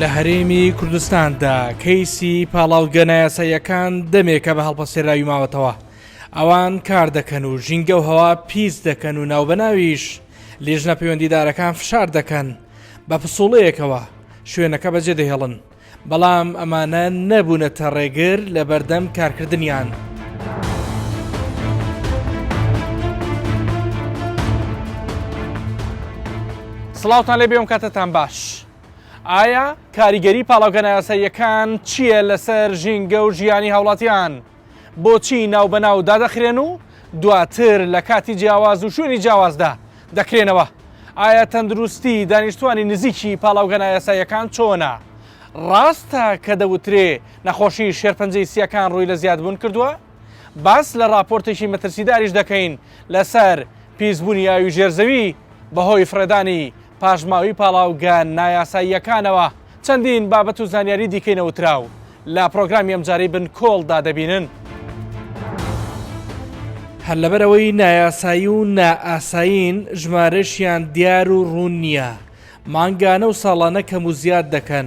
لە هەرێمی کوردستاندا کەیسی پاڵاوتگە نایاساییەکان دەمێکە بە هەڵپەسێراوی ماوەتەوە ئەوان کار دەکەن و ژینگە و هەوا پیس دەکەن و ناوبەناویش لێژنە پەیوەندیدارەکان فشار دەکەن بە پسوڵەیەکەوە شوێنەکە بەجێ دەهێڵن بەڵام ئەمانە نەبوونەتە ڕێگر لە بەردەم کارکردنیان. سڵاوتان لێبێ و کاتەتان باش. ئایا کاریگەری پاڵاوگە نایاساییەکان چییە لەسەر ژینگە و ژیانی هاوڵاتیان؟ بۆچی ناوبەناو دادەخرێن و دواتر لە کاتی جیاواز و شوێنی جیاوازدا دەکرێنەوە؟ ئایا تەندروستی دانیشتووانی نزیکی پاڵاوگە نایاساییەکان چۆنە؟ ڕاستە کە دەوترێ نەخۆشی شێرپەنجەی سییەکان ڕووی لە زیادبوون کردووە؟ باس لە ڕاپۆرتێکی مەترسیداریش دەکەین لەسەر پیسبوونی ئاوی ژێرزەوی بەهۆی فڕێدانی پاشماوەی پاڵاوگە نایاساییەکانەوە چەندین بابەت و زانیاری دیکەی نەوتراو لە پرۆگرامی ئەمجارەی بن کۆڵدا دەبینن. هەر لەبەرەوەی نایاسایی و نائاسایین ژمارەشیان دیار و ڕوون نییە، مانگانە و ساڵانە کەم و زیاد دەکەن،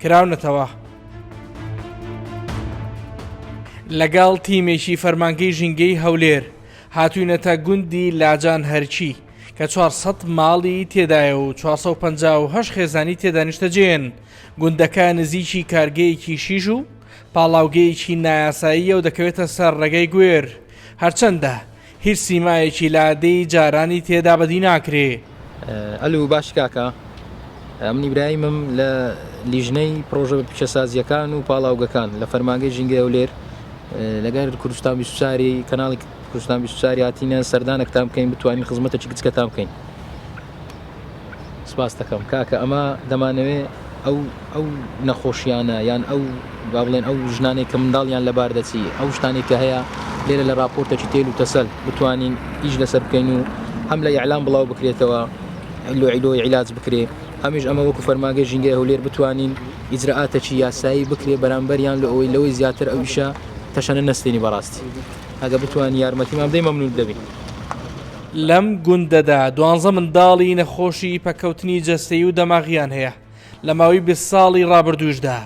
کراونەتەوە. لەگەڵ تیمێکی فەرمانگەی ژینگەی هەولێر هاتوینەتە گوندی لاجان هەرچی کە 400 ماڵی تێدایە و 450 خێزانی تێدانیشتەجێن گوندەکە نزیکی کارگەیەکی شیژ و پاڵاوگەیەکی نایاساییە و دەکەوێتە سەر ڕێگەی گوێر هەرچەندە هیچ سیمایەکی لادێی جارانی تێدا بەدی ناکرێ. ئەلو باشی کاکە من ئیبراهیمم لە لیژنەی پڕۆژە پیشەسازیەکان و پاڵاوگەکان لە فەرمانگەی ژینگەی ئەولێر لەگەر کوردستان بیسوچاری کەناڵی کوردستان بیسوچاری هاتینە سەردانەکتان بکەین بتوانین خزمەتەکی گچکەتان بکەین سپاستەکەم کاکە ئەمە دەمانەوێ ئەو ئەو نەخۆشیانە یان ئەو با بڵێن ئەو ژنانەی کە منداڵیان لەبار دەچی ئەو شتانی کە هەیە لێرە لە راپۆرتێکی تێل و تەسەل بتوانین ئیش لەسەر بکەین و هەم لە یعلام بڵاو بکرێتەوە لۆیلۆی عیلاج بکرێ هەمیش ئەمە وەکو فەرماگەی ژینگەی هەولێر بتوانین ئیجرراتێکی یاسایی بکرێ بەرامبەریان لە ئەوەی لەوەی زیاتر ئەو ئیشە تەشەنە نستێنی بەڕاستی ئەگە بتوانین یارمەتیمان بدەی مەمنون دەبین لەم گوندەدا دوانزە منداڵی نەخۆشی پەککەوتنی جەستەیی و دەماغییان هەیە، لە ماوەی بیست ساڵی ڕابردووشدا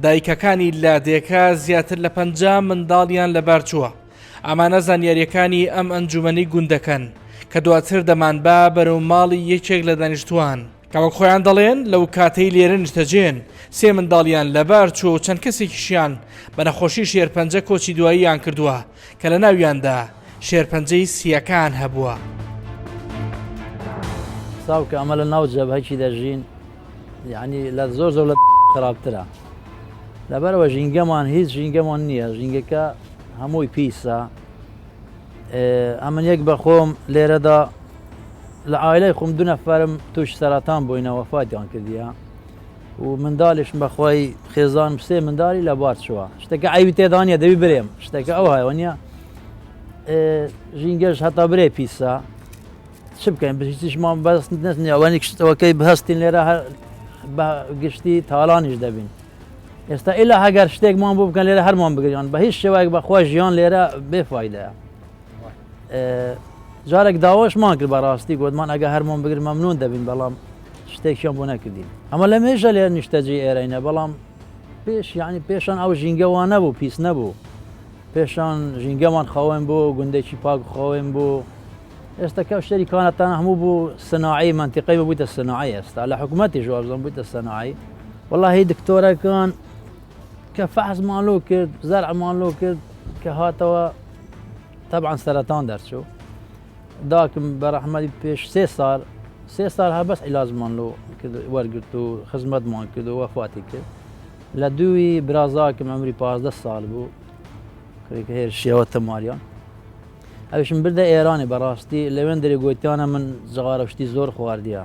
دایکەکانی لادێکە زیاتر لە پەنجا منداڵیان لەبارچووە. ئەمانە زانیارییەکانی ئەم ئەنجوومەنی گوندەکەن کە دواتر دەمانبا بەرەو ماڵی یەکێک لە دانیشتووان، کە وەک خۆیان دەڵێن لەوکاتەی لێرە نیشتەجێن سێ منداڵیان لەبارچووە و چەند کەسێکیشیان بە نەخۆشی شێرپەنجە کۆچی دواییان کردووە. کە لە ناویاندا شێرپەنجەی سییەکان هەبووە. ساو کە ئەمە لە ناو جەبهەکی دەژین یعنی لە زۆر زۆر لە خراپترە لەبەرەوە ژینگەمان هیچ ژینگەمان نییە ژینگەکە هەمووی پیسە ئەمن یەک بەخۆم لێرەدا لە ئایلای خۆم دو نەفرم توش سەرەتان بووینەوە فاتیان کردیە و مندالیشم بەخوای خێزانم سێ مندالی لە بار چووە شتەکە ئەوی تێدانە دەوی برێم شتەکە ئەو هایوە نیە ژینگەش هەتا برێ پیسە چ بکەین بریتیشمان بەست نەنیاوانی کشتەوەکەی بهستین لێرە بە گشتی تاالانیش دەبین ئێستا ئیلا هەگەر شتێکمان بۆ بکەن لێرە هەرمان بگریان بە هیچ شێوایك بەخوا ژیان لێرە بێفاایدەیە جارێک داواشمان کرد بەڕاستی گوتمان ئەگە هەرمان بگر مەمنون دەبین بەڵام شتێکیان بۆ نەکردین ئەمە لە مێژە لێ نیشتەجێ ئێرەینە بەڵام پێش یعنی پێشان ئەو ژینگەوان نەبوو پیس نەبوو پێشان ژینگەمان خاوێن بۆ گوندێکی پاک خاوێن بۆ ئێستاکە شتێری کانەتان هەموو بوو سناعی منتیقی ببوویتە سناعی ئێستا لە حکوومەتی ژوازم بوویتە سناعی وەڵی دکتۆرەکان کە فەحزمان لۆ کرد زەرعمان لۆ کرد کە هاتەوە تەبان سەرەتان دەرچوو داکم بەرەحمەتی پێش سێ سار سێ سار هە بەس عیلاجمان لۆ وەرگرت و خزمەتمان کرد و وەفاتی کرد لە دووی برازاکم ئەمری پازدە سال بوو کرێکە هێر شێوە تەماریان ئەوشم بردە ئێرانی بەڕاستی لەوێن دەێ گوتیانە من جغارە شتی زۆر خواردە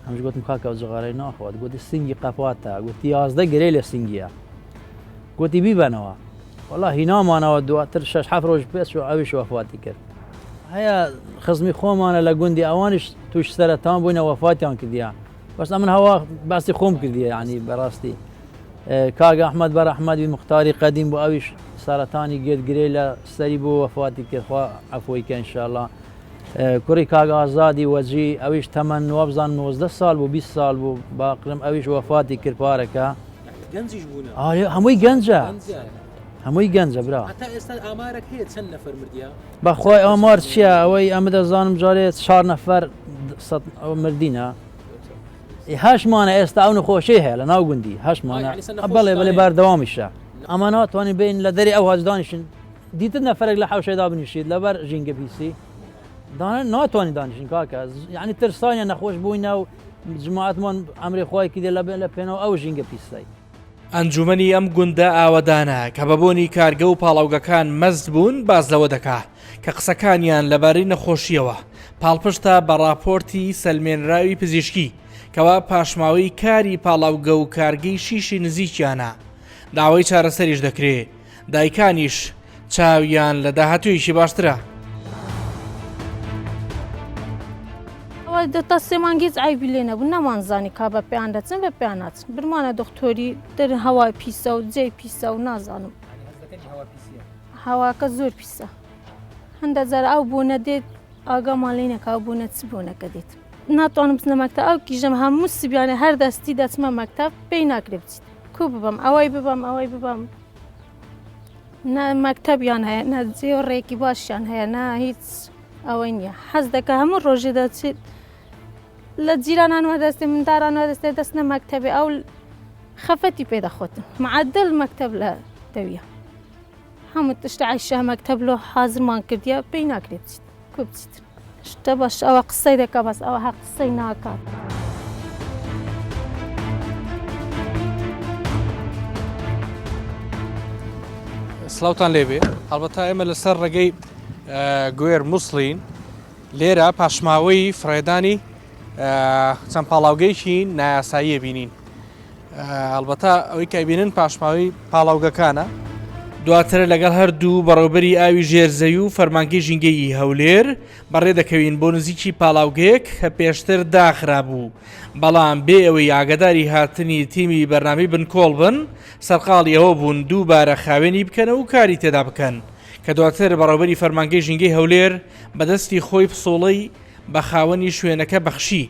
هەمش گوتم کاکە جغارەی ناخوات گوتی سنگی قەپاتە گوتی یازدە گرێ لە سنگیە گوتی بیبەنەوە وەڵا هینا مانەوە دواتر شەش حەفت ڕۆژ پێ چوو ئەویش وەفاتی کرد. هەیە خزمی خۆمانە لە گوندی ئەوانیش تووش سەرەتان بووینە وەفاتیان کردیە بەس ئەمن هەوا باسی خۆم کردیە عنی بەڕاستی کاک ئەحمد بەر ئەحمەدی مختاری قەدیم بۆ ئەویش سەرەتانی گێت گرێ لە سەری بۆ وەفاتی کردخوا عفۆی کە انشاءله کوڕی کاگ ئازادی وەجی ئەویش تەمەەن وابزان 19 سال بوو 20 سال بوو باقرم ئەویش وەفاتی کرد پارەکە گەنجیش بوون ئاە هەمووی گەنجە هەمووی گەنجە برا تا ئێستا ئامارەک هەیە چەند نەفەر مردیا بەخوای ئامار چییە ئەوەی ئەمە دەزانم جارێت چار نەفەر مردینە هەشمانە ئێستا ئەو نەخۆشی هەیە لە ناو گوندی هەشمانە بەڵێ بڵێ بەردەوامیشە ئەمە ناتوانین بین لە دەری ئەو هەزدانیشن دیتر نەفرێک لە حوشێدا بنیشیت لەبەر ژینگە پیسی ناتوانانی دانیشین کاکە یعنی ترسانە نەخۆش بووینە و جماعەت من ئەمری خۆی کردێ لە بێ لە پێنەوە ئەو ژینگە پیسەی ئەنجومەنی ئەم گوندە ئاوەدانە کە بە بۆنی کارگە و پاڵاوگەکان مەست بوون باز لەوە دەکا کە قسەکانیان لەبارەی نەخۆشیەوە پاڵپشتە بە ڕاپۆرتی سەلمێنراوی پزیشکی کەوا پاشماوەی کاری پاڵاوگە و کارگەی شیشی نزیکیانە داوای چارەسەریش دەکرێت دایکانیش چاویان لە داهاتوویەکی باشترە. دەتا سێمان گیج ئایبی لێ نەبوو نەمانزانی کا بە پێیان دەچن بە پێیان ناچن برمانە دکتۆری دەر هەوای پیسە و جێ پیسە و نازانم هەواکە زۆر پیسە هەندە جار ئەو بۆ نەدێت ئاگامان لی نەکە بۆ نەچ بۆ نەکە دێت ناتوانم بچنە مەکتە ئەو کیژەم هەموو سبیانە هەر دەستی دەچمە مەکتب پێی ناکرێ بچیت کو ببم ئەوەی ببم ئەوەی ببم نە مەکتەبیان هەیە نە جێڕێکی باشیان هەیە نە هیچ ئەوەی نییە حەز دەکە هەموو ڕۆژێ دەچیت لە جیرانانوە دەستێ مندارانوە دەستێ دەست نە مەکتەبێ ئەو خەفەتی پێ دەخۆتن معدل مەکتەب لە دەویە هەموو تشتعیشە مەکتەب لۆ حازمان کردە پێی ناکرێت بچیت شتە بەش ئەوە قسەی دەکە بەس ئەوە هەر قسەی ناکات. سلاوتان لێبێ هەڵبەتا ئێمە لەسەر ڕێگەی گوێر مووسڵین لێرە پاشماوەی فڕێدانی چەند پاڵاوگەیکی نایاساییە بینین هەڵبەتە ئەوەی کە ئەبینن پاشماوەی پاڵاوگەکانە. دواتر لەگەڵ هەردوو بەڕێوبەری ئاوی ژێرزەوی و فەرمانگەی ژینگەیی هەولێر بەڕێ دەکەوین بۆ نزیکی پاڵاوگەیەک کە پێشتر داخرابوو بەڵام بێ ئەوەی ئاگداری هاتنی تیمی بەرنامی بنکۆڵ بن سەرقاڵی ئەوە بوون دووبارە خاوێنی بکەن و کاری تێدا بکەن کە دواتر بەڕێوبەری فەرمانگەی ژینگەی هەولێر بەدەستی خۆی پسۆڵەی بە خاوەنی شوێنەکە بەخشی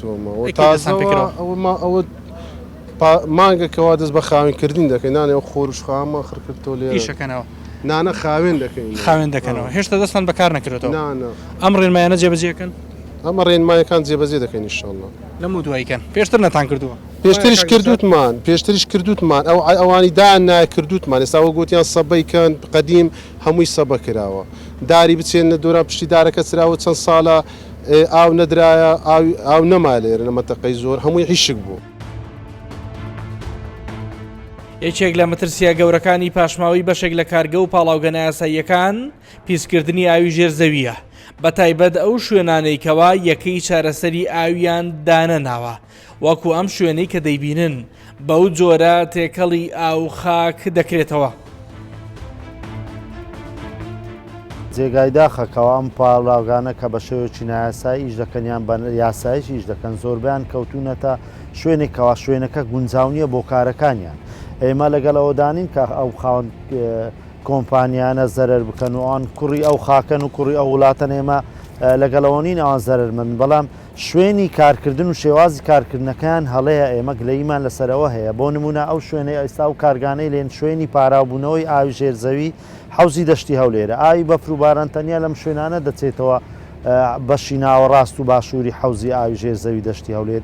تۆمەوە تازەوە ئەوما ئەوت مانگە کەوا دەست بە خاوین کردین دەکەین نانێ و خۆرش خامان خڕکردۆ لێشەکەنەوە نانە خاوێن دەکەین خاوێن دەکەنەوە هێشتا دەستان بەکار نەکرێتەوە ئەم ڕێنمایانە جێبەجێکن ئەمە ڕێنمایەکان جێبەجێ دەکەین شڵە لەم و دوایکەن پێشتر نەتان کردووە پێشتریش کردوتمان پێشتریش کردوتمان ئەو ئەوانی دا ناکردوتمان ئێستاوە گوتیان سەبەیکەن قدیم هەمووی سەبە کراوە داری بچێن لە دۆرا پشتی دارەکە چراوە چەند ساڵە ئێ ئاو نەدرایە ئاوی ئاو نەما لێرە لە مەتەقەی زۆر هەمووی حیشک بوو. یەکێک لە مەترسییە گەورەکانی پاشماوەی بەشێک لە کارگە و پاڵاوگە نایاساییەکان پیسکردنی ئاوی ژێر زەوییە بەتایبەت ئەو شوێنانەی کەوا یەکەی چارەسەری ئاویان دانەناوە وەکو ئەم شوێنەی کە دەیبینن بەو جۆرە تێکەڵی ئاو خاک دەکرێتەوە. جێگای داخە کە ئەم پاڵاوگانە کە بە شێوەیەکی نایاسایی ئیش دەکەن یان بە یاسایش ئیش دەکەن زۆربەیان کەوتوونەتە شوێنێک کەوا شوێنەکە گونجاو نییە بۆ کارەکانیان ئێمە لەگەڵ ئەوەدانین کە ئەو خاوەن کۆمپانیانە زەرەر بکەن و ئەوان کوڕی ئەو خاکەن و کوڕی ئەو وڵاتەن ئێمە لەگەڵەوە نین ئەوان زەرەرمەند بەڵام شوێنی کارکردن و شێوازی کارکردنەکەیان هەڵەیە، ئێمە گلەییمان لەسەر ئەوە هەیە، بۆ نموونە ئەو شوێنەی ئێستا ئەو کارگانەی لێن شوێنی پاراوبوونەوەی ئاوی ژێر زەوی حەوزی دەشتی هەولێرە، ئاوی بەفر و باران تەنیا لەم شوێنانە دەچێتەوە بەشی ناوەڕاست و باشووری حەوزی ئاوی ژێر زەوی دەشتی هەولێر،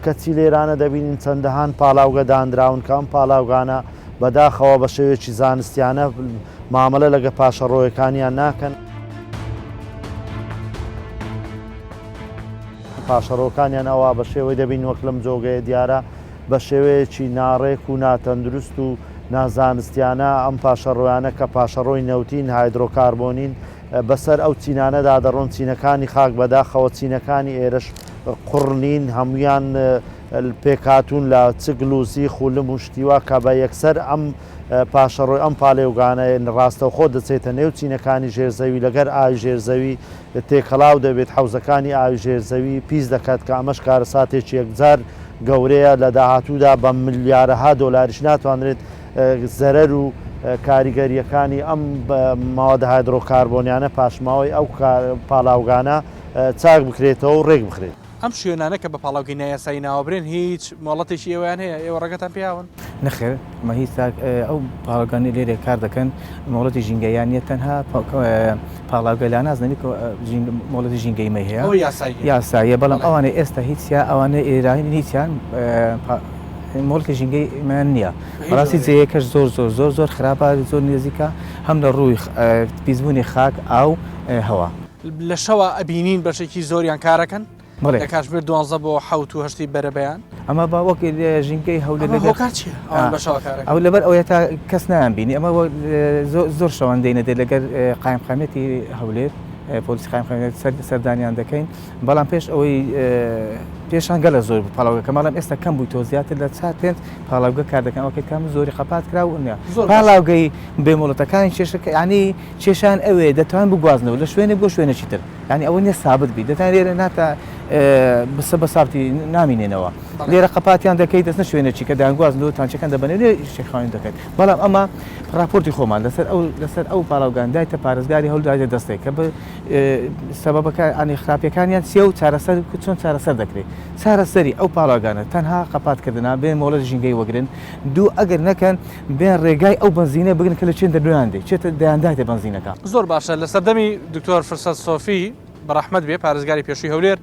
کەچی لێرانە دەبینین چەندەهان پاڵاوگە دانراون کە ئەم پاڵاوگانە بەداخەوە بە شێوەیەکی زانستیانە مامەلە لەگە پاشەڕۆیەکانیان ناکەن. پاشەڕۆکانیان ئەوە بە شێوەی دەبین وەک لەم جۆگەیە دیارە بە شێوەیەکی ناڕێک و ناتەندروست و نازانستیانە ئەم پاشەڕۆیانە کە پاشەڕۆی نەوتین هایدرۆکاربۆنین بەسەر ئەو چینانەدا دەڕۆن چینەکانی خاک بەداخەوە چینەکانی ئێرش قڕنین هەمویان پێکهاتوون لە چ گلووزی، خولم و شتی وا کە بە یەکسەر ئەم پاشەڕۆی ئەم پالێوگانە راستەوخۆ دەچێتە نێو چینەکانی ژێر زەوی لەگەر ئاوی ژێر زەوی تێکەڵاو دەبێت حەوزەکانی ئاوی ژێر زەوی پیس دەکات کە ئەمەش کارەساتێکی یەکجار گەورەیە لە داهاتوودا بە ملیارەها دۆلاریش ناتوانرێت زەرەر و کاریگەرییەکانی ئەم مەوادە هایدرۆکاربۆنیانە پاشماوەی ئەو پاڵاوگانە چاک بکرێتەوە و رێک بخرێت. ئەم شوێنانە کە بە پاڵاوگەی نایاسایی ناوەبرێن هیچ مۆڵەتێکی ئێوەیان هەیە ئێوە ڕێگەتان پێیاون؟ نەخێر مە هیچ ئەو پاڵاوگانەی لێرێ کار دەکەن مۆڵەتی ژینگەیان نیە تەنها پاڵاوگە لا نازنەوی مۆڵەتی ژینگەی مە هەیە یاساییە بەڵام ئەوانە ئێستا هیچ ئەوانە ئێرانی هیچیان مۆڵکی ژینگەی من نییە ڕاستی جەیەکەش زۆر زۆر زۆر زۆر خراپە زۆر نێزیکە هەم لە ڕووی پیسبوونی خاک ئاو هەوا لە شەوا ئەبینین بەشێکی زۆریان کارەکەن لە کاتژمێر دوانزە بۆ حوت و هەشتی بەرەبیان ئەمە با وەک ژینگەی هەولێر ئەو لەبەر ئەوە تا کەس نایان بینی ئەمە زۆر شەوەندەینە دێت لەگەر قایمقامەتی هەولێر پۆلیس قایمقامێت سەردانیان دەکەین بەڵام پێش ئەوەی پێشان گەلە زۆر پاڵاوگە کە ماڵم ئێستا کەم بووی تۆ زیاتر لە چات پێنج پاڵاوگە کار دەکەن ئەوکە کەم زۆری خەپات کرا و نیە پاڵاوگەی بێمۆڵەتەکانی کێشەکە ینی کێشەیان ئەوەیە دەتوان بگوازنەوە لە شوێنێک بۆ شوێنێکی تر یانی ئەوە نیە سابت بیت دەتان لێرە ناتا بسە بە سابتی نامینێنەوە لێرە قەپاتیان دەکەیت دەستە شوێنێکی کە دەیانگوازنەوە تانچەکان دەبنێ لێ شێخاوین دەکەیت بەڵام ئەمە راپۆرتی خۆمان لەسەر ئەو لەسەر ئەو پاڵاوگاندایتە پارێزگاری هەولدایە دەستێک کە بە سەبەکە ئەنی خراپەکانیان سێ و چارەسەر چۆن چارەسەر دەکرێت چارەسەری ئەو پاڵاگانە تەنها قەپاتکردنا بێ مۆڵەت ژینگەی وەگرن دوو ئەگەر نەکەن بیان ڕێگای ئەو بەنزینە بگرن کە لە چێن دەرۆیان دێ چێتە دەیان داتێ بەنزینەکە. زۆر باشە لە سەردەمی دکتۆر فرسەت سۆفی بە ڕەحمەت بێ پارێزگاری پێشووی هەولێر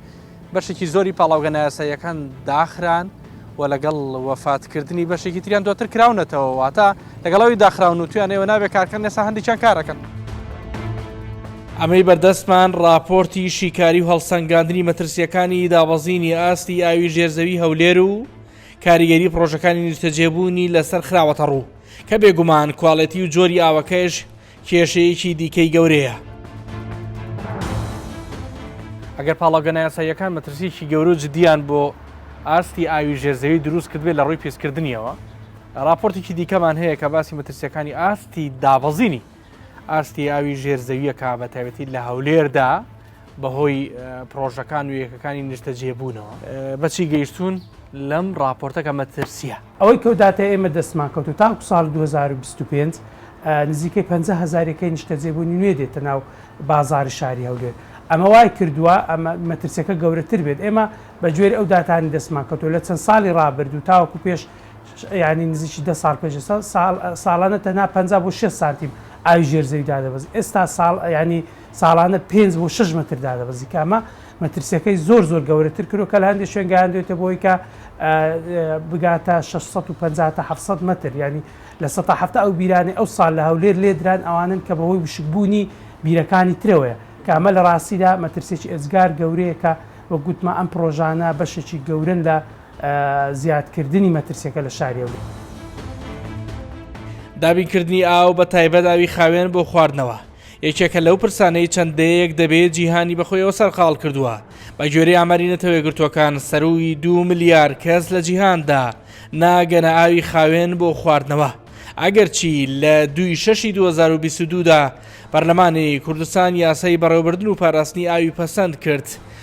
بەشێکی زۆری پاڵاوگە نایاساییەکان داخران و لەگەڵ وەفات کردنی بەشێکی تریان دواتر کراونەتەوە واتە لەگەڵ ئەوی داخراون و تویان ئێوە نابێ کارکەن نێسا هەندێکیان کارەکەن. ئەمەی بەردەستمان ڕاپۆرتی شیکاری و هەڵسەنگاندنی مەترسییەکانی دابەزینی ئاستی ئاوی ژێرزەوی هەولێر و، کاریگەری پڕۆژەکانی نیشتەجێبوونی لەسەر خراوەتەڕوو، کە بێگومان کوالێتی و جۆری ئاوەکەش کێشەیەکی دیکەی گەورەیە. ئەگەر پاڵاوگە نایاساییەکان مەترسییەکی گەورە و جددییان بۆ ئاستی ئاوی ژێر زەوی دروست کردبێت لەڕووی پیسکردنییەوە، ڕاپۆرتێکی دیکەمان هەیە کە باسی مەترسییەکانی ئاستی دابەزینی ئاستی ئاوی ژێر زەوییەکە بە تایبەتی لە هەولێردا بەهۆی پرۆژەکان و یەکەکانی نیشتەجێبوونەوە بەچی گەیشتون لەم ڕاپۆرتەکە مەترسیە ئەوەی کەو داتە ئێمە دەستمان کەوت و تاکو ساڵ 2025 نزیکەی 50 هزارەکەی نیشتەجێبوونی نوێ دێتە ناو بازاری شاری هەولێر ئەمە وای کردووە ئەمە مەترسیەکە گەورەتر بێت ئێمە بە گوێر ئەو داتانی دەستمان کەوتو لە چەند ساڵی ڕابردوو تاوەکو پێش یانی نزیکی دە ساڵ پێش ئێستا ساڵانە تەنها 50 بۆ 6 سانتیم ئاوی ژێر زەوی دادەبەزی ئێستا ساڵ ینی ساڵانە 5 بۆ 6 متر دادەبەزی کامە مەترسیەکەی زۆر زۆر گەورەتر کرۆ کە لە هەندێک شوێن گەیاندێتە بۆی کە بگاتە 650 تا 700 متر ینی لە 1970 ئەو بیرانی ئەو سال لە هەولێر لێدران ئەوانن کە بەهۆی وشکبوونی بیرەکانی ترەوەیە کامە لە ڕاستیدا مەترسێکی ئێزگار گەورەیەکە وە گوتمە ئەم پرۆژانە بەشێکی گەورن لە زیادکردنی مەترسیەکە لە شاری هەولێر. دابینکردنی ئاو بە تایبەت ئاوی خاوێن بۆ خواردنەوە یەکێکە لەو پرسانەی چەند دەیەک دەبێت جیهانی بەخۆیەوە سەرقاڵ کردووە بە گوێری ئاماری نەتەوەیەگرتووەکان سەرووی دو ملیار کەس لە جیهاندا ناگەنە ئاوی خاوێن بۆ خواردنەوە ئەگەرچی لە دوی شەشی 2022دا پەرلەمانی کوردستان یاسای بەڕێوبردن و پاراستنی ئاوی پەسەند کرد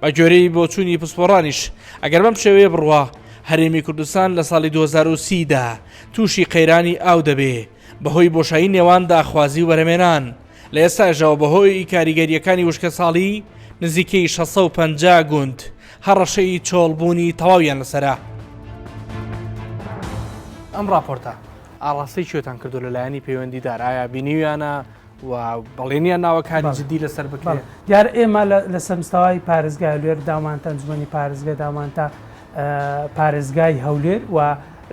بە گوێرەی بۆچوونی پسپۆڕانیش ئەگەر بەم شێوەیە بڕوا هەرێمی کوردستان لە ساڵی 2030 دا تووشی قەیرانی ئاو دەبێ بەهۆی بۆشایی نێوان داخوازی و بەرەمێنان لە ئێستاشەوە بەهۆی کاریگەریەکانی وشکەساڵی نزیکەی 650 گوند هەڕەشەی چۆڵبوونی تەواویان لەسەرە. ئەم ڕاپۆرتە ئاڕاستەی کوێتان کردو لەلایەنی پەیوەندیدار ئایا بینیویانە؟ و بەڵێنیان ناوە کاری جدی لەسەر بکرێت. دیارە ئێمە لەسەر مستەوای پارێزگای هەولێر داومانتە، ئەنجومەنی پارێزگا داومانتە، پارێزگای هەولێر و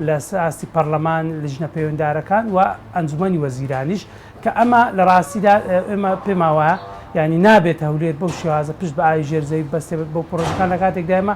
لە ئاستی پەرلەمان، لیژنە پەیوەندارەکان و ئەنجومەنی وەزیرانیش کە ئەمە لە ڕاستیدا ئێمە پێمان وایە یانی نابێت هەولێر بەو شێوازە پشت بە ئاوی ژێر زەوی ببەستێت بۆ پڕۆژەکان لە کاتێکدا ئێمە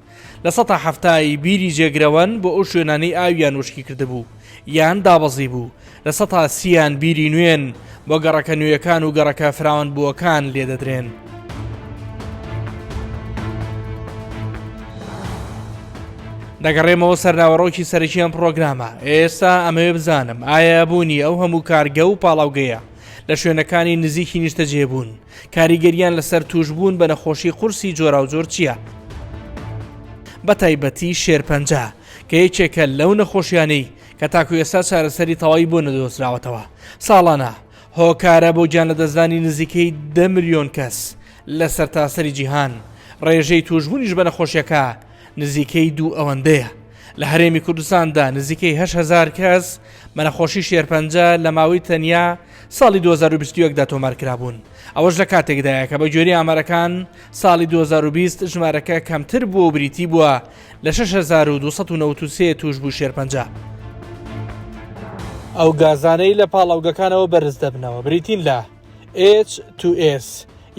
لە سەتا حەفتا ی بیری جێگرەوەن بۆ ئەو شوێنانەی ئاویان وشکی کردبوو یان دابەزیبوو، لە سەتا سی یان بیری نوێن بۆ گەڕەکە نوێیەکان و گەڕەکە فراوانبووەکان لێ دەدرێن. دەگەڕێمەوە سەر ناوەڕۆکی سەرەکی ئەم پڕۆگرامە، ئێستا ئەمەوێ بزانم ئایا بوونی ئەو هەموو کارگە و پاڵاوگەیە لە شوێنەکانی نزیکی نیشتەجێبوون، کاریگەرییان لەسەر تووشبوون بە نەخۆشی قورسی جۆراوجۆر چییە؟ بەتایبەتی شێرپەنجە کە یەکێکە لەو نەخۆشیانەی کە تاکو ئێستا چارەسەری تەواوی بۆ نەدۆزراوەتەوە ساڵانە هۆکارە بۆ گیان لەدەستدانی نزیکەی دە ملیۆن کەس لە سەرتاسەری جیهان ڕێژەی توشبوونیش بە نەخۆشیەکە نزیکەی دوو ئەوەندەیە لە هەرێمی کوردستاندا نزیکەی هەهزار کەس بە نەخۆشی شێرپەنجە لە ماوەی تەنیا ساڵی دوو هەزار و بیست و یەک دا تۆمارکرابوون، ئەوەش لە کاتێکدایە کە بە گوێرەی ئامارەکان ساڵی دوو هەزار و بیست ژمارەکە کەمتر بووە و بریتی بووە لە شەش هەزار و دوو سەد و نەوەد و سێ تووشبووی شێرپەنجە. ئەو گازانەی لە پاڵاوگەکانەوە بەرز دەبنەوە بریتین لە، ئێچ، توو، ئێس،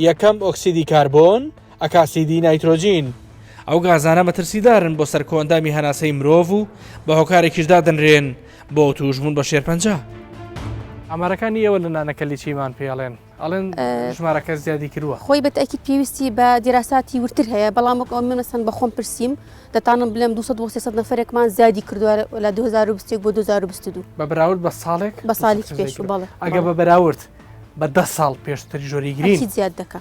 یەکەم ئۆکسیدی کاربۆن، ئەکاسیدی نایترۆجین، ئەو گازانە مەترسیدارن بۆ سەر کۆئەندامی هەناسەی مرۆڤ و بە هۆکارێکیش دادەنرێن بۆ تووشبوون بە شێرپەنجە. ئامارەکانی ئێوە لە نانەکەلی چیمان پێ ئەڵێن؟ ئەڵێن ژمارەکە زیادی کرووە. خۆی بە تەئکید پێویستی بە دیراساتی وردتر هەیە، بەڵام وەک ئەوە من مەسەن بە خۆم پرسیم، دەتانم بلێم دوو سەد بۆ سێ سەد نەفەرێکمان زیادی کردووە لە دوو هەزار و بیست و یەک بۆ دوو هەزار و بیست و دوو. بە بەراورد بە ساڵێک؟ بە ساڵێکی پێشوو بەڵێ. ئەگەر بە بەراورد بە دە ساڵ پێشتر ژۆری گرین؟ ئەکید زیاد دەکا.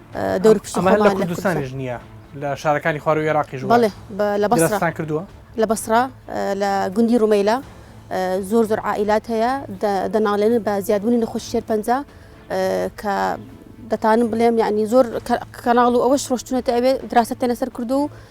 دەور پشت ئەمە لە کوردستانیش نییە لە شارەکانی خوارو عێراقیش بڵێ لە بەستان کردووە لە بەسرا لە گوندی ڕومەیلا زۆر زۆر عائلات هەیە دەناڵێن بە زیادبوونی نەخۆش شێر پەنج کە دەتانم بڵێم یعنی زۆر کەناڵ و ئەوەش ڕۆشتونەتە ئەوێ دراستە لەسەر کردو و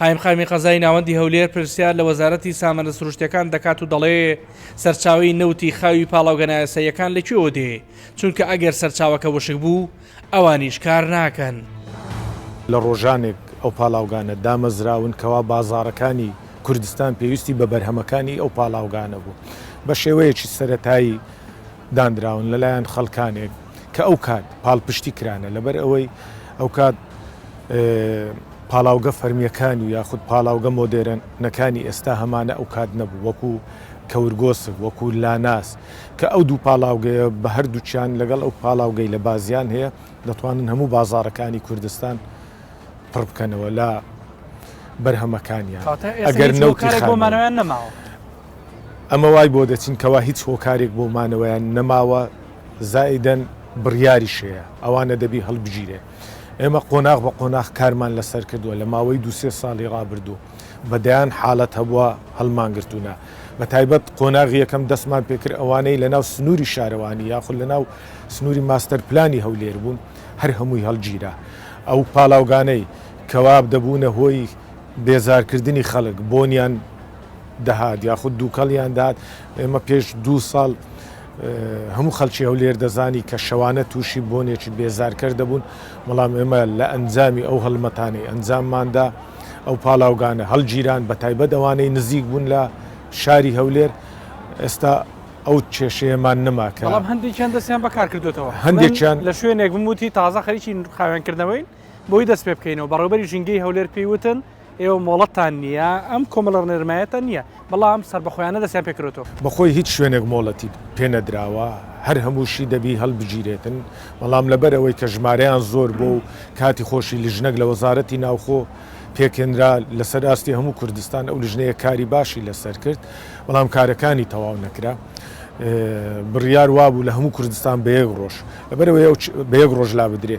قایمقامی قەزای ناوەندی هەولێر پرسیار لە وەزارەتی سامانە سروشتیەکان دەکات و دەڵێ، سەرچاوەی نەوتی خاوی پاڵاوگە نایاساییەکان لە کوێوە دێ، چونکە ئەگەر سەرچاوەکە وشک بوو، ئەوانیش کار ناکەن. لە ڕۆژانێک ئەو پاڵاوگانە دامەزراون کەوا بازاڕەکانی کوردستان پێویستی بە بەرهەمەکانی ئەو پاڵاوگانە بوو، بە شێوەیەکی سەرەتایی داندراون لەلایەن خەڵکانێک کە ئەو کات پاڵپشتی کرانە لەبەر ئەوەی ئەوکات پاڵاوگە فەرمییەکانی و یاخود پاڵاوگە مۆدێرنەکانی ئێستا هەمانە ئەوکات نەبوو وەکو کەورگۆسک وەکو لاناس کە ئەو دوو پاڵاوگەیە بە هەردووکیان لەگەڵ ئەو پاڵاوگەی لە بازیان هەیە دەتوانن هەموو بازاڕەکانی کوردستان پڕ بکەنەوە لە بەرهەمەکانیان کاتە ئێستا ئەگەر هیچ نەوتی هۆکارێک بۆ خام مانەوەیان نەماوە ئەمە وای بۆ دەچین کەوا هیچ هۆکارێک بۆ مانەوەیان نەماوە زائیدەن بڕیاریش هەیە ئەوانە دەبی هەڵبگیرێ. ئێمە قۆناغ بە قۆناغ کارمان لەسەر کردووە لە ماوەی دوو سێ ساڵی ڕابردوو بە دەیان حاڵەت هەبووە هەڵمانگرتوونە بە تایبەت قۆناغی یەکەم دەستمان پێکرد ئەوانەی لەناو سنووری شارەوانی یاخود لەناو سنووری ماستەر پلانی هەولێر بوون هەر هەمووی هەڵگیرا ئەو پاڵاوگانەی کەوا دەبوونە هۆی بێزارکردنی خەڵک بۆنیان دەهات یاخود دووکەڵیان دەهات ئێمە پێش دوو ساڵ هەموو خەڵکی هەولێر دەزانی کە شەوانە تووشی بۆنێکی بێزارکەر دەبوون، بەڵام ئێمە لە ئەنجامی ئەو هەڵمەتانەی ئەنجامماندا ئەو پاڵاوگانە هەڵگیران بەتایبەت ئەوانەی نزیک بوون لە شاری هەولێر، ئێستا ئەو کێشەیەمان نەما کە بەڵام هەندێکیان دەستیان بەکار کردووەتەوە، هەندێکیان لە شوێنێک بووم وتی تازە خەریکی خاوێنکردنەوەین بۆی دەست پێ بکەینەوە، بەڕێوەبەری ژینگەی هەولێر پێی وتن ئێوە مۆڵەتتان نییە، ئەم کۆمەڵە ڕێنمایەتان نییە، بەڵام سەربەخۆیانە دەستیان پێ کردووەتەوە. بەخۆی هیچ شوێنێک مۆڵەتی پێ نەدراوە، هەر هەمووشی دەبی هەڵبگیرێتن، بەڵام لەبەر ئەوەی کە ژمارەیان زۆر بووە و کاتی خۆشی لیژنەک لە وەزارەتی ناوخۆ پێکهێنرا لەسەر ئاستی هەموو کوردستان، ئەو لیژنەیە کاری باشی لەسەر کرد، بەڵام کارەکانی تەواو نەکرا، بڕیار وابوو لە هەموو کوردستان بە یەک ڕۆژ، لەبەر ئەوەی ئەو بە یەک ڕۆژ لابدرێ.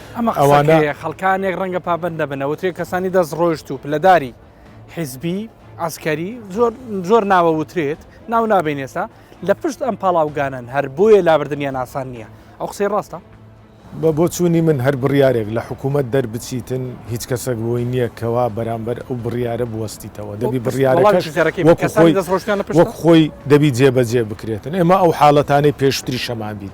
ئەمە ئەوانە خەڵکانێک ڕەنگە پابند دەبنە وترێک کەسانی دەست ڕۆشت و پلەداری حیزبی ئاسکەری زۆر زۆر ناوە وترێت ناو نابێنێسا لە پشت ئەم پاڵاوگانن هەر بۆیە لابردنیان ئاسان نییە ئەو قسەی ڕاستە بە بۆچوونی من هەر بڕیارێک لە حکوومەت دەربچیتن هیچ کەسێک بۆی نییە کەوا بەرامبەر ئەو بڕیارە بوەستیتەوە دەبی بڕیارەکەش وەک خۆی دەبی جێبەجێ بکرێتن ئێمە ئەو حاڵەتانەی پێشتری شەمان بین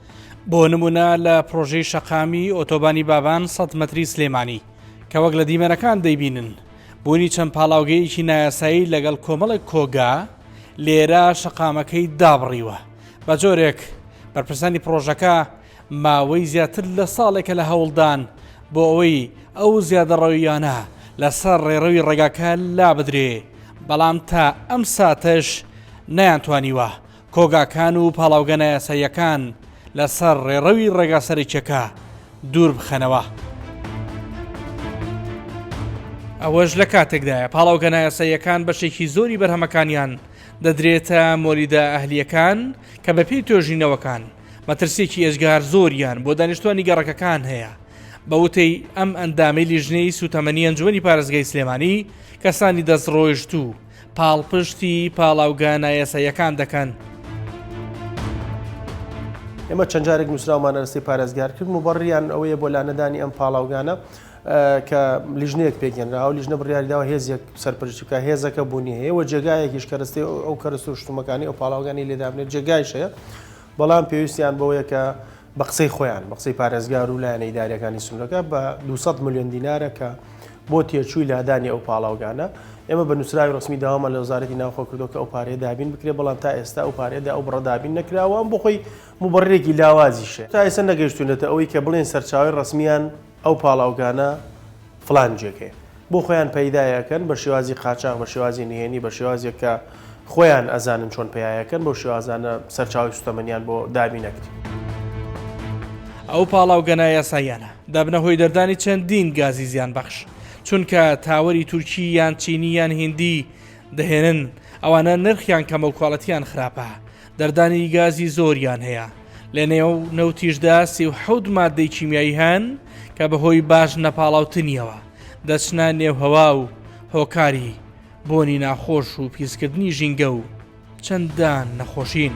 بۆ نمونە لە پرۆژەی شەقامی ئۆتۆبانی بابان سەد مەتری سلێمانی کە وەک لە دیمەنەکان دەیبینن بوونی چەند پاڵاوگەیەکی نایاسایی لەگەڵ کۆمەڵێک کۆگا لێرە شەقامەکەی دابڕیوە بە جۆرێک بەرپرسانی پرۆژەکە ماوەی زیاتر لە ساڵێکە لە هەوڵدان بۆ ئەوەی ئەو زیادەڕەویانە لەسەر ڕێڕەوی ڕێگاکە لا بدرێ بەڵام تا ئەم ساتەش نەیانتوانیوە کۆگاکان و پاڵاوگە نایاساییەکان لەسەر ڕێڕەوی ڕێگا سەرەکیەکە دوور بخەنەوە. ئەوەش لە کاتێکدایە پاڵاوگە نایاساییەکان بەشێکی زۆری بەرهەمەکانیان دەدرێتە مۆلیدە ئەهلییەکان کە بەپێی توێژینەوەکان مەترسیەکی ئێجگار زۆریان بۆ دانیشتوانی گەڕەکەکان هەیە بە وتەی ئەم ئەندامەی لیژنەی سوتەمەنی ئەنجومەنی پارێزگای سلێمانی کەسانی دەست ڕۆیشتوو پاڵپشتی پاڵاوگە نایاساییەکان دەکەن. ئێمە چەند جارێک نووسراومانە لەسەی پارێزگار کرد مبڕیان ئەوەیە بۆ لانەدانی ئەم پاڵاوگانە کە لیژنەیەک پێکێنرا و لیژنە بڕیاریداوە هێزێک سەرپەرشتی بکە هێزەکە بوونی هەیە و جێگایەکیش کەرەستەی ئەو کەرەستە و شتومەکانی ئەو پاڵاوگانی لێدابنێت جێگایش هەیە بەڵام پێویستیان بەوەیە کە بە قسەی خۆیان، بە قسەی پارێزگار و لایەنە ئیدارییەکانی سنوورەکە، بە دوو سەد ملیۆن دینارە کە بۆ تێچووی لادانی ئەو پاڵاوگانە. ئێمە بە نووسراوی ڕەسمی داوامان لە وەزارەتی ناوخۆ کردووە کە ئەو پارەیە دابین بکرێت، بەڵام تا ئێستا ئەو پارەیە ئەو بڕە دابین نەکراوە و ئەم بۆ خۆی موبەڕیرێکی لاوازیشە. تا ئێستا نەگەیشتوونەتە ئەوەی کە بڵێن سەرچاوەی ڕەسمییان ئەو پاڵاوگانە فڵان جێگەیە. بۆ خۆیان پەیدایەکەن بە شێوازی قاچاغ بە شێوازی نهێنی بە شێوازێک کە خۆیان ئەزانن چۆن پەیایەکەن بەو شێوازانە سەرچاوی سوتەمەنیان بۆ دابین ئەکرێ. ئەو پاڵاوگە نایاساییانە دەبنە هۆی دەردانی چەندین گازی زیان بەخش چونکە تاوەری تورکی یان چینی یان هیندی دەهێنن ئەوانە نرخیان کەمە و کوالەتیان خراپە دەردانی گازی زۆریان هەیە لە نێو نەوتیشدا سی و حەوت مادەی کیمیایی هەن کە بەهۆی باش نەپاڵاوتنیەوە دەچنە نێوهوا و هۆکاری بۆنی ناخۆش و پیسکردنی ژینگە و چەندان نەخۆشین.